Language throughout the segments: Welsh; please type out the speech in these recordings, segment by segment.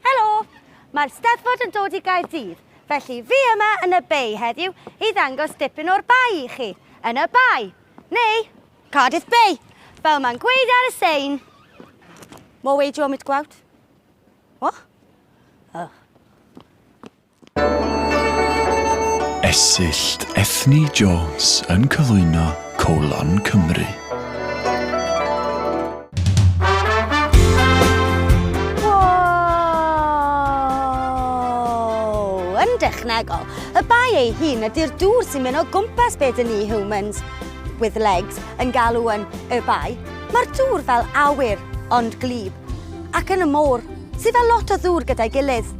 Helo! Mae'r Steddfod yn dod i Gaerdydd, felly fi yma yn y Bay heddiw i ddangos dipyn o'r Bay i chi. Yn y Bay, neu Cardiff Bay, fel mae'n gweud ar y sein. More way do you want me to go out? What? Oh. Esyllt Ethni Jones yn cyflwyno Colon Cymru. yn dechnegol. Y bai ei hun ydy'r dŵr sy'n mynd o gwmpas beth yn ni humans with legs yn galw yn y bai. Mae'r dŵr fel awyr ond glib ac yn y môr sydd fel lot o ddŵr gyda'i gilydd.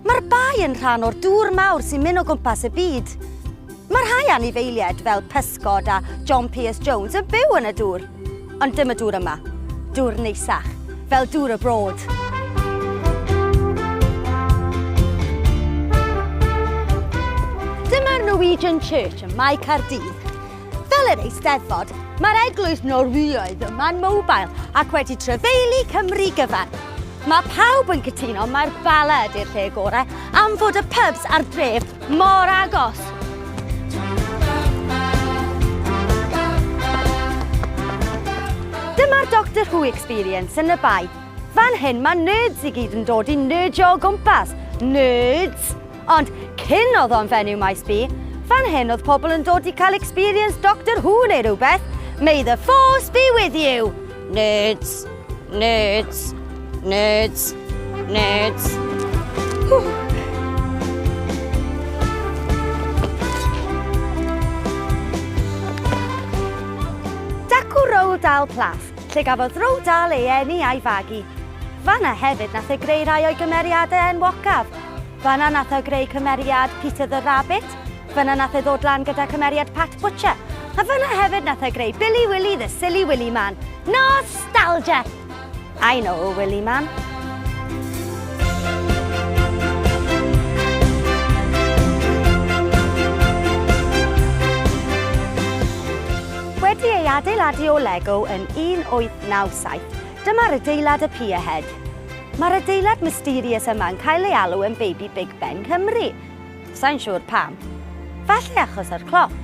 Mae'r bae yn rhan o'r dŵr mawr sy'n mynd o gwmpas y byd. Mae rhai anifeiliaid fel pysgod a John Pierce Jones yn byw yn y dŵr. Ond dim y dŵr yma. Dŵr neisach, fel dŵr y Broad. Dyma'r Norwegian Church ym Mae Caerdydd. Fel yr Eisteddfod, mae'r eglwys Norwyaidd yma'n mobile ac wedi trefeili Cymru gyfan. Mae pawb yn cytuno mai'r Bala ydy'r lle gorau am fod y pubs a'r dref mor agos. Dyma'r Doctor Who experience yn y Bae. Fan hyn mae nerds i gyd yn dod i nerdjo o gwmpas. Nerds! Ond cyn oedd o'n fenyw Maes B, fan hyn oedd pobl yn dod i cael experience Doctor Who neu rhywbeth, May the force be with you! Nerds, nerds, nerds, nerds. Whew. Roald Dahl Plath, lle gafodd Roald Dahl ei eni a'i fagu. Fanna hefyd nath e greu rhai o'i gymeriadau enwocaf, Fanna nath e greu cymeriad Peter the Rabbit, fanna nath e ddod lan gyda cymeriad Pat Butcher, a fanna hefyd nath e greu Billy Willy the Silly Willy Man. Nostalgia! I know a Willy Man. Wedi ei adeiladu o Lego yn 1897, dyma'r adeilad y Pierhead. Mae'r adeilad mysterious yma yn cael ei alw yn Baby Big Ben Cymru. Sai'n siŵr pam. Falle achos yr cloc.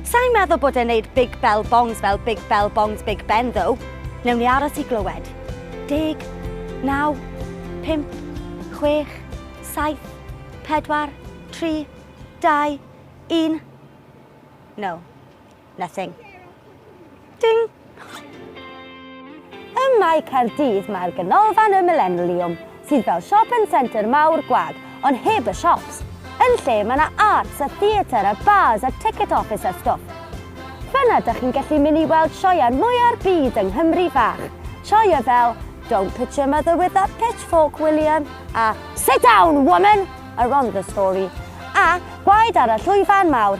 Sai'n meddwl bod e'n neud Big Bell Bongs fel Big Bell Bongs Big Ben though. Newn ni aros i glywed. Deg, naw, pump, chwech, saith, pedwar, tri, dau, un. No. Nothing. Ding! Ym Mae Caerdydd mae'r Ganolfan y Millenliwm, sydd fel shopping centre mawr gwag, ond heb y shops. Yn lle mae yna arts a theatr a bars a ticket office a stwff. Fanna dych chi'n gallu mynd i weld sioeau mwya'r byd yng Nghymru fach. Sioeau fel Don't pitch your mother with that pitchfork, William a Sit down, woman! are on the story. A gwaed ar y llwyfan mawr,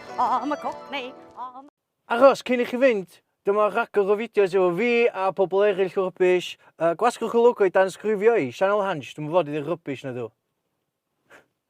am y coch neu am... Aros, cyn i chi fynd, dyma rhagor o fideos efo fi a pobl eraill rubbish, gwasgwch y logo i danysgrifio i, sianel Hansh, dwi'm yn fod i ddeud rubbish nadw.